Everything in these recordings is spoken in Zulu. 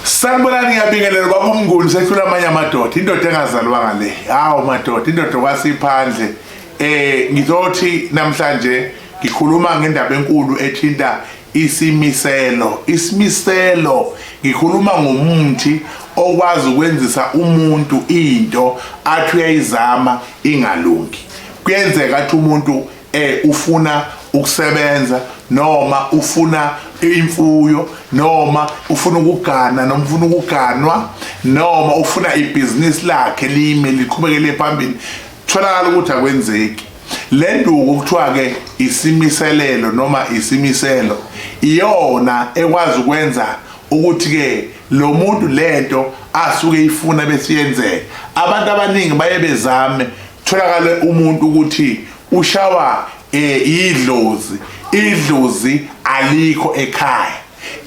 Sanibonani ngiyabingelela baba uMnguni sehlula amanye amadoda indoda engazalwanga le hawu madoda indoda kwasiphandle eh ngizothi namhlanje ngikhuluma ngendaba enkulu ethinta isimiselo isimiselo ngikhuluma ngomuthi okwazi ukwenzisa umuntu into athi uyayizama ingalungi kuyenzeka ukuthi umuntu eh ufuna ukusebenza noma ufuna imfuyo noma ufuna ukugana noma ufuna ukuganwa noma ufuna ibhizinisi lakhe lime liqhubekele phambili tholakala ukuthi akwenzeki le nduku kuthiwa-ke isimiselelo noma isimiselo iyona ekwazi ukwenza ukuthi-ke lo muntu lento asuke ifuna besiyenzeka abantu abaningi baye bezame tholakale umuntu ukuthi ushawa eh idlozi idlozi alikho ekhaya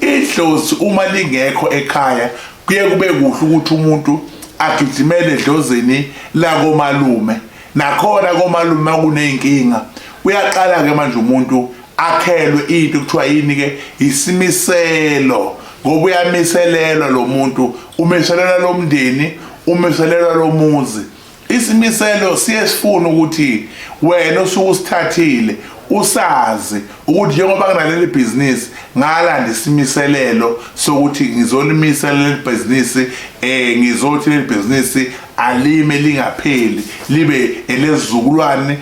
idlozi uma lingekho ekhaya kuye kube kuhle ukuthi umuntu agijimele edlozini lakomalume nakhona komalume kuneyinkinga uyaqala ke manje umuntu akhelwe into kuthiwa yini ke isimiselo ngoba uyamiselelwa lo muntu umiselelwa lo mndeni umiselelwa lo muzi Isimiselo siye sifuna ukuthi wena osuke usithathile usazi ukuthi njengoba kunaleli bhizinisi ngalanda isimiselelo sokuthi ngizolimisa leli bhizinisi um ngizothi leli bhizinisi alime lingapheli libe elezizukulwane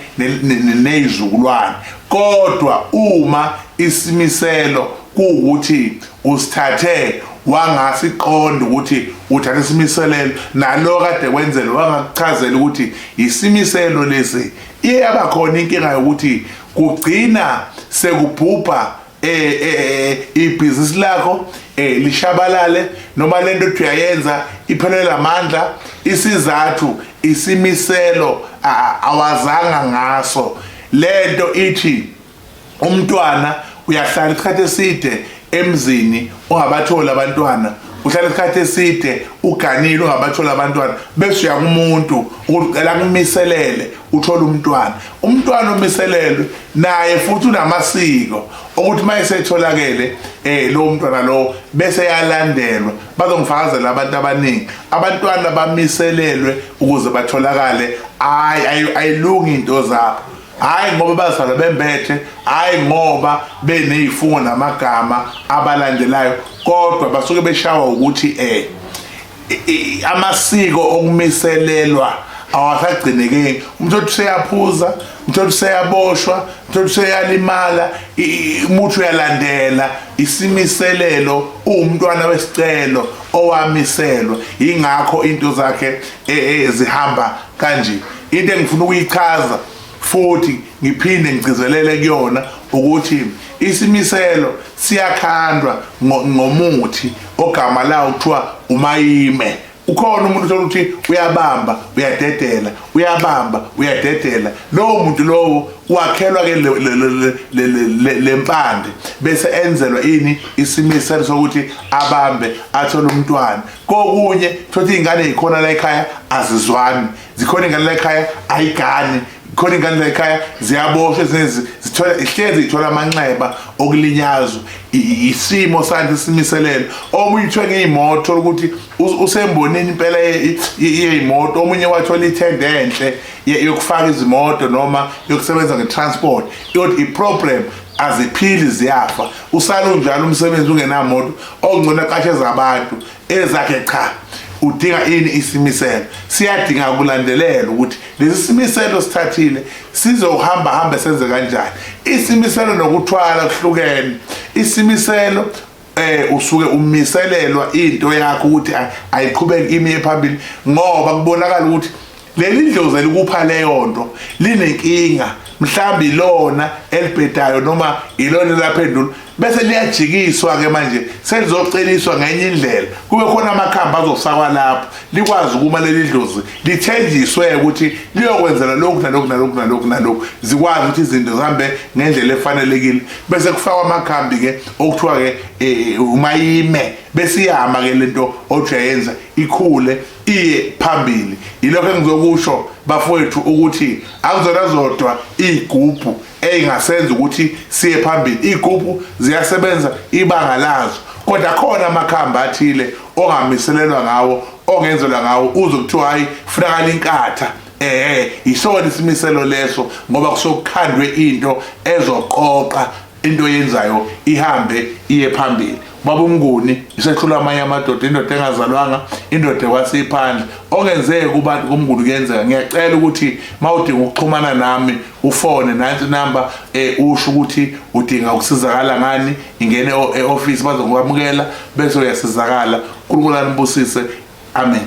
neyizukulwane kodwa uma isimiselo kuwukuthi Usithathe wangasiqonda ukuthi uthatha isimiselelo nalo kade kwenzele wangakuchazela ukuthi yisimiselelo lesi iye yabakhona inkinga yokuthi kugcina sekubhubha eh, eh, eh ibhizinisi lakho eh lishabalale noma lento ethi uyayenza iphelela amandla isizathu isimiselo awazanga ngaso lento ithi umntwana uyahlala isikhathi eside emzini ungabatholi abantwana uhlala isikhathi eside uganile ungabatholi abantwana bese uya kumuntu ukuthi ucela kumiselele uthole umntwana umntwana omiselelwe naye futhi unamasiko ukuthi uma esetholakele um eh, lowo mntwana lowo bese yalandelwa bazongifakazela abantu abaningi abantwana bamiselelwe ukuze batholakale hhayi ayilungi into zabo hhayi ngoba bazalwa bembethe hhayi ngoba beney'fungo namagama abalandelayo kodwa basuke beshawa ukuthi um amasiko okumiselelwa awasagcinekeki umuntu othi useyaphuza umuntu othi useyaboshwa umuntu othi useyalimala umuthi uyalandela isimiselelo uwumntwana wesicelo owamiselwa yingakho into zakhe e, e, zihamba kanje into engifuna ukuyichaza futhi ngiphinde ngigcizelele kuyona ukuthi isimiselo siyakhandwa ngomuthi ogama lawo kuthiwa umayime ukhona umuntu uthola ukuthi uyabamba uyadedela uyabamba uyadedela lowo muntu lowo wakhelwa ke lempande bese enzelwa ini isimiselo sokuthi abambe athole umntwana kokunye thothi ingane ikhona la ekhaya azizwani zikhona ingane la ekhaya ayigani khona ingane la ekhaya ziyaboshwa ezinezi zithola ihlezi ithola amanxeba okulinyazwa isimo sanje simiselelo omunye uthiwe ngeyimoto ukuthi usembonini impela yeyimoto omunye wathola ithende enhle yokufaka izimoto noma yokusebenza ngetransport kodwa iproblem aziphili ziyafa usale unjalo umsebenzi ungenamoto ongcono aqasheza abantu ezakhe cha udinga ini isimiselo siyadinga ukulandelela ukuthi lesi simiselo sithathile sizohamba hambe senze kanjani isimiselo nokuthwala kuhlukene isimiselo eh usuke umiselelwa into yakho ukuthi ayiqhubeki imiye phambili ngoba kubonakala ukuthi leli ndlozi elikupha leyo nto linenkinga mhlawumbe ilona elibhedayo noma ilona elaphendula bese liyajikiswa-ke manje selizoceliswa ngenye indlela kube khona amakhambi azofakwa lapho likwazi ukuma leli dlozi lithenjiswe ukuthi liyokwenzela lokhu nalokhu nalokhu nalokhu nalokhu zikwazi ukuthi izinto zihambe ngendlela efanelekile bese kufakwa amakhambi-ke okuthiwa-ke eh, umayime bese iyama-ke le nto ojayenza ikhule iye phambili yilokho engizokusho bafowethu ukuthi akuzona zodwa iy'gubhu ey'ngasenza ukuthi siye phambili iy'gubhu ziyasebenza ibanga lazo kodwa khona amakhamba athile ongamiselelwa ngawo ongenzelwa ngawo uze kuthiwa hhayi funakala inkatha eh yisona isimiselo leso ngoba kusokukhandwe into ezoqoqa into yenzayo ihambe iye phambili baba umnguni isehlula amanye amadoda indoda engazalwanga indoda kwasiphandle ongenzeke kubantu kumnguni kuyenzeka ngiyacela ukuthi mawudinga ukuxhumana nami ufone nansi number eh usho ukuthi udinga ukusizakala ngani ingene eoffice bazokwamukela bese uyasizakala uNkulunkulu anibusise amen